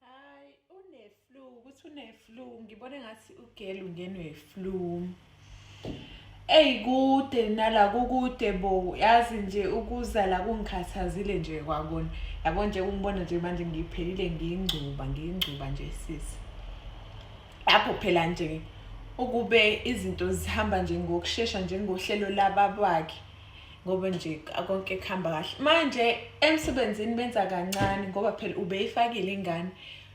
Hayi uneflu ukuthi uneflu ngibone ngathi ugel ungenwe flu. Eyi kude nala kukude bo yazi nje ukuza la kungikhathazile nje kwakona yabo nje kungibona nje manje ngiphelile ngiyingcuba ngiyingcuba nje sisi lapho phela nje ukube izinto zihamba nje ngokushesha njengohlelo lababwakhe ngoba nje konke kuhamba kahle manje emsebenzini benza kancane ngoba phela ubeyifakile ingane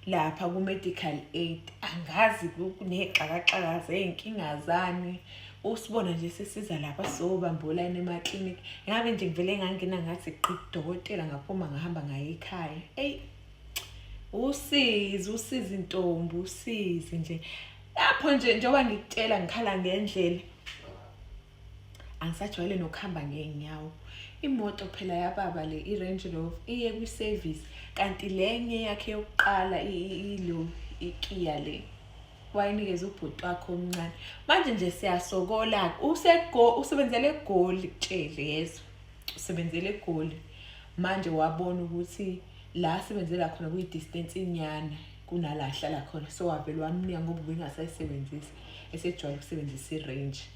lapha ku-medical aid angazi kuney'xakaxaka zey'nkinga zani usibona nje sisiza lapha sobambolana emaklinikhi ngabe nje ngivele ngangena ngathi qidokotela ngaphuma ngahamba ngaye ekhaya eyi usizi usizi ntombi usizi nje lapho nje njengoba ngikutshela ngikhala ngendlela angisajwayele nokuhamba ngeenyawo imoto phela yababa le i-range rover iye kwi-service kanti lenye yakhe yokuqala ilo ikiya le wayinikeza ubhuti wakho omncane manje nje siyasokola-ke usebenzela egoli kutshele yezwa usebenzela egoli manje wabona ukuthi la asebenzela khona kuyi-distance inyana kunala ahlala khona so wavele wamnika ngoba ubingasayisebenzisi esejwayele ukusebenzisa i-range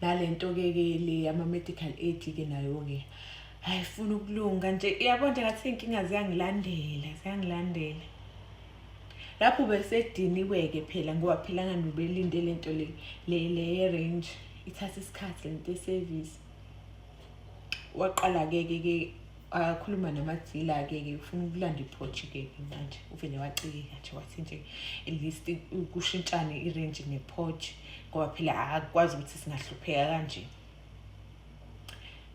nalento-ke ke le yama-medical aid-ke nayo-ke hayi funa ukulunga nje yabo nje ngathi iy'nkinga ziyangilandela ziyangilandela lapho besediniwe-ke phela ngoba phela ngani ubelinde le nto le le ye-range ithatha isikhathi le nto ye-service waqala-ke ke ke akhuluma nomathila ke ke ufuna ukulanda iphoji ke ke manje uvele wacika nje wathi nje at least kushintshane irange nephoji ngoba phela akwazi ukuthi singahlupheka kanje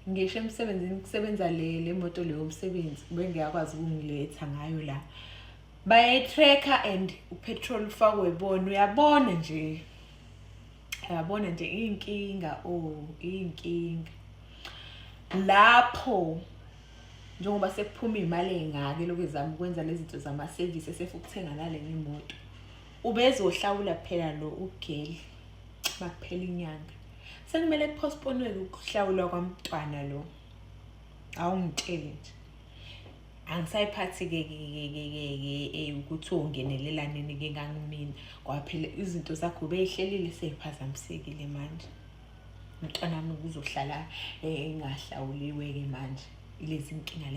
ngisho emsebenzini kusebenza le le moto leyo umsebenzi bengiyakwazi ukungiletha ngayo la bayayi-tracker and upetrol ufakwe bona uyabona nje uyabona nje iy'nkinga o oh, iy'nkinga lapho njengoba sekuphuma iy'mali ey'ngaka elokhu ezama ukwenza lezi zinto zamasevisi esefa ukuthenga nale ngemoto ubezohlawula phela lo ugeli makuphela inyanga sekumele kuphosponiweke ukuhlawulwa kwamntwana lo awungitshele nje angisayiphathi-ke eh, ukuthi ongenelela-nini-ke ngangimina kwaphela izinto zakho beyihlelile seyiphazamisekile manje mntwana wami kuzohlala engahlawuliwe-ke manje ilezi nkinga